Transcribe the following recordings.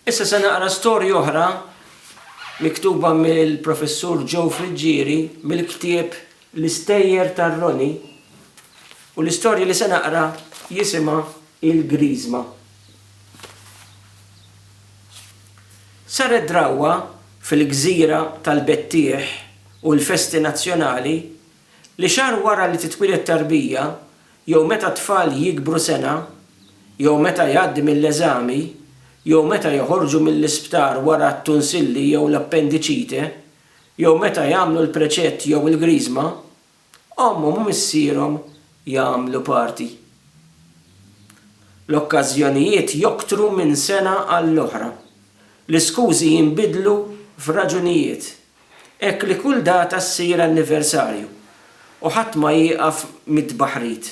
Issa se naqra storja oħra miktuba mill-Professur Joe Friggieri mill-ktieb L-Istejjer tar-Roni u l-istorja li se naqra jisimha Il-Griżma. Saret drawwa fil-gżira tal-Bettieħ u l-festi nazzjonali Li xahar wara li titwieled tarbija, jew meta t-tfal jikbru sena, jew meta jgħaddi mill-eżami, jew meta joħorġu mill-isptar wara t-tunsilli jew l-appendiċite, jew meta jagħmlu l-preċett jew il-griżma, ommhom u missierhom jagħmlu party. L-okkażjonijiet joktru minn sena għall-oħra. L-iskużi jinbidlu f'raġunijiet. Hekk li kull data ssir anniversarju u ħadd ma jieqaf mit-tbaħħrit.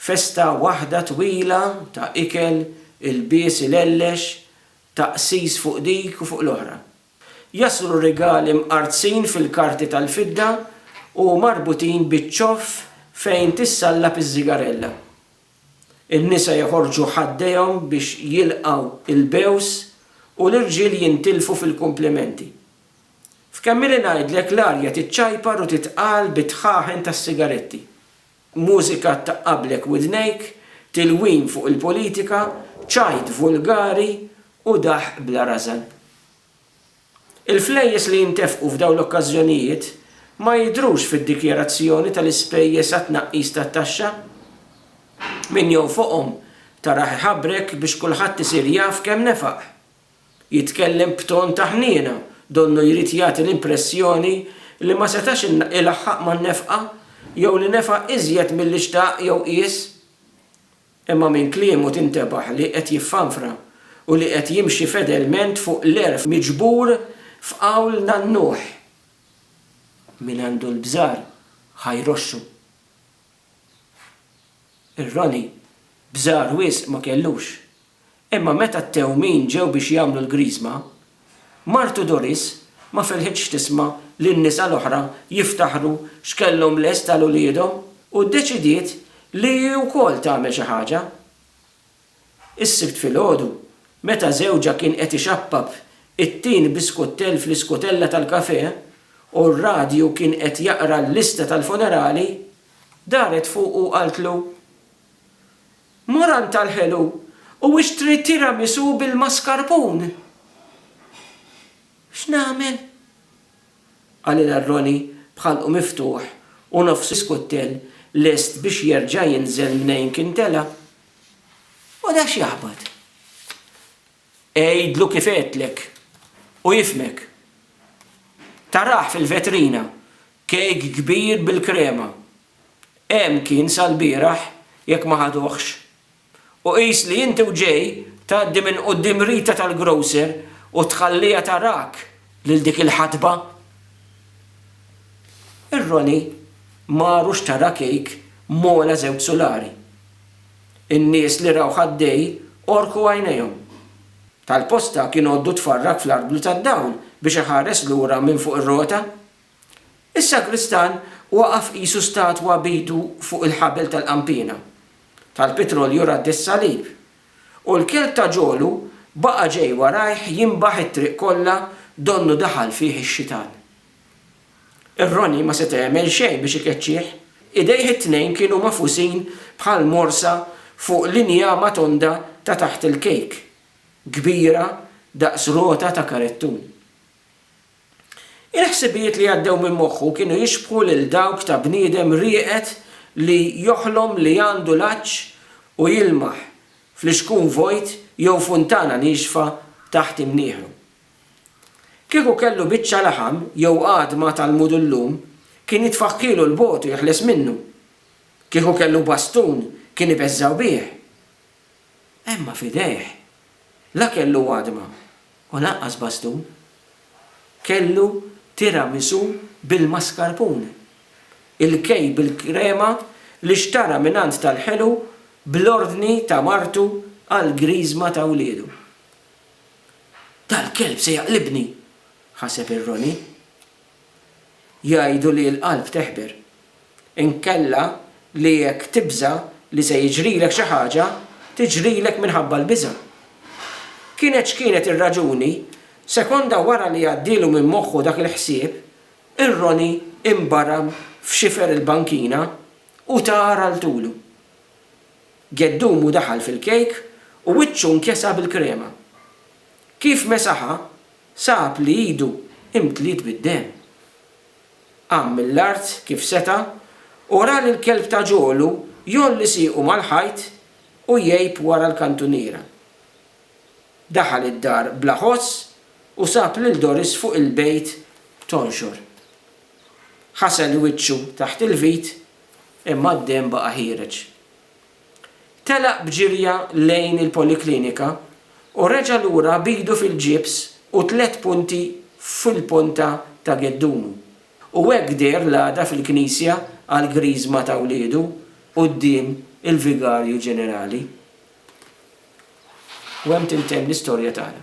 Festa waħda twila ta' ikel, ilbies ilellex, taqsis fuq dik u fuq l-oħra. Jaslu r-rigali mqartzin fil-karti tal-fidda u marbutin biċ-ċoff fejn tissallab iż-żigarella. In-nisa jeħorġu ħaddejhom biex jilqgħu l-bews u l-irġiel jintilfu fil-kumplimenti. F'kemm ili ngħidlek l-arja tiċċajpar u titqal bit-tħaħen tas-sigaretti. Mużika ttaqablek widnejk, tilwim fuq il-politika, ċajt vulgari u daħq bla rażan. Il-flejjes li jintefqu f'dawn l-okkażjonijiet ma jidhrux fid-dikjarazzjoni tal-ispejjeż għat-tnaqqis tat-taxxa. Min jonfoqhom tarah iħabrek biex kulħadd isir jaf kemm nefaq. Jitkellem b'ton ta' ħniena donnu jrid jagħti l-impressjoni li ma setax ilaħħaq man-nefqa jew li nefaq iżjed milli xtaq jew qies. Imma minn kliemu tintebaħ li qed jiffanfra u li qed jimxi fedelment fuq l-għerf miġbur f'qawl nannuħ, Min għandu l-bżar ħa jroxxu. Ir-Roni bżar wisq ma kellux, Imma meta t-tewmin ġew biex jagħmlu l-Griżma, martu Doris ma ferħitx tisma' lin-nisa l-oħra jiftaħru x'kellhom lest għal uliedhom u ddeċidiet li hi wkoll tagħmel xi ħaġa. Is-Sibt filgħodu, meta żewġha kien qed ixappab it-tin bi skuttell fl-iskutella tal-kafè u r-radju kien qed jaqra l-lista tal-funerali, daret fuqu u qaltlu, Moran tal-ħelu, u ixtri tiramisù bil-mascarpun! X'nagħmel? qalilha Ronnie b'ħalqu miftuħ u nofs iskuttel lest biex jerġa' jinżel mnejn kien tela'. U da x'jaħbat? Għidlu kif għedtlek u jifhmek. Tarah fil-vetrina, kejk kbir bil-krema. Hemm kien sal-bieraħ jekk ma ħaduhx. U qis li inti u Jay tgħaddi minn quddiem Rita tal-grocer u tħalliha tarak lil dik il-ħatba. Ir-Ronnie maru xtara kejk m'għola żewġ sulari. In-nies li rawh għaddej għorku għajnejhom. Tal-posta kien għoddu tfarrak fl-arblu tad-dawl biex iħares lura minn fuq ir-rota. Is-sagristan waqaf qisu statwa b'idu fuq il-ħabel tal-qanpiena tal-pitrolju radd is-salib, u l-kelb ta' ġolu baqa' ġej warajh jinbaħ it-triq kollha donnu daħal fih ix-xitan. Ir-roni ma seta' jagħmel xejn biex ikeċċih, idejh it-tnejn kienu magħfusin bħal morsa fuq l-injama tonda ta' taħt il-kejk, kbira daqs rota ta' karettun. Il-ħsibijiet li għaddew minn moħħu kienu jixbħu lil dawk ta' bniedem rieqed li joħlom li għandu l-għatx u jilmaħ fl-ixkun vojt jew funtana niexfa taħt imnieħru. Kieku kellu biċċa laħam jew għadma tal-mudullum, kien jitfaħħilu 'l bogħod u jeħles minnu. Kieku kellu bastun, kien ibeżżgħu bih. Imma f'idejh la kellu għadma u lanqas bastun. Kellu tiramisù bil-mascarpone, il-kejk bil-krema li xtara mingħand tal-ħelu bl-ordni ta' martu għall-griżma ta' wliedu. Dal-kelb se jaqlibni! ħaseb ir-Ronnie. Jgħidu li l-qalb teħber. Inkella li jekk tibża' li se jiġrilek xi ħaġa, tiġrilek minħabba l-biża'. Kienet x'kienet ir-raġuni, sekonda wara li għaddielu minn moħħu dak il-ħsieb, ir-Roni inbaram f'xifer il-bankina u tar għal tulu. Geddumu daħal fil-kejk u wiċċu nkesa bil-krema. Kif mesaha, Sab li idu imtliet bid-demm. Qam mill-art kif seta' u ra lil kelb ta' ġolu jgħolli siequ mal-ħajt u jgħib wara l-kantuniera. Daħal id-dar bla ħoss u sab lil Doris fuq il-bejt tonxor. Ħasel wiċċu taħt il-vit imma d-demm baqa' ħiereġ. Telaq b'ġirja lejn il-poliklinika u reġa' lura b'idu fil-ġibs u tliet punti fil-ponta ta' geddumu. U hekk deher l-għada fil-knisja għall-Griżma ta' wliedu quddiem il-Vigarju Ġenerali. U hemm tintemm l-istorja tagħna.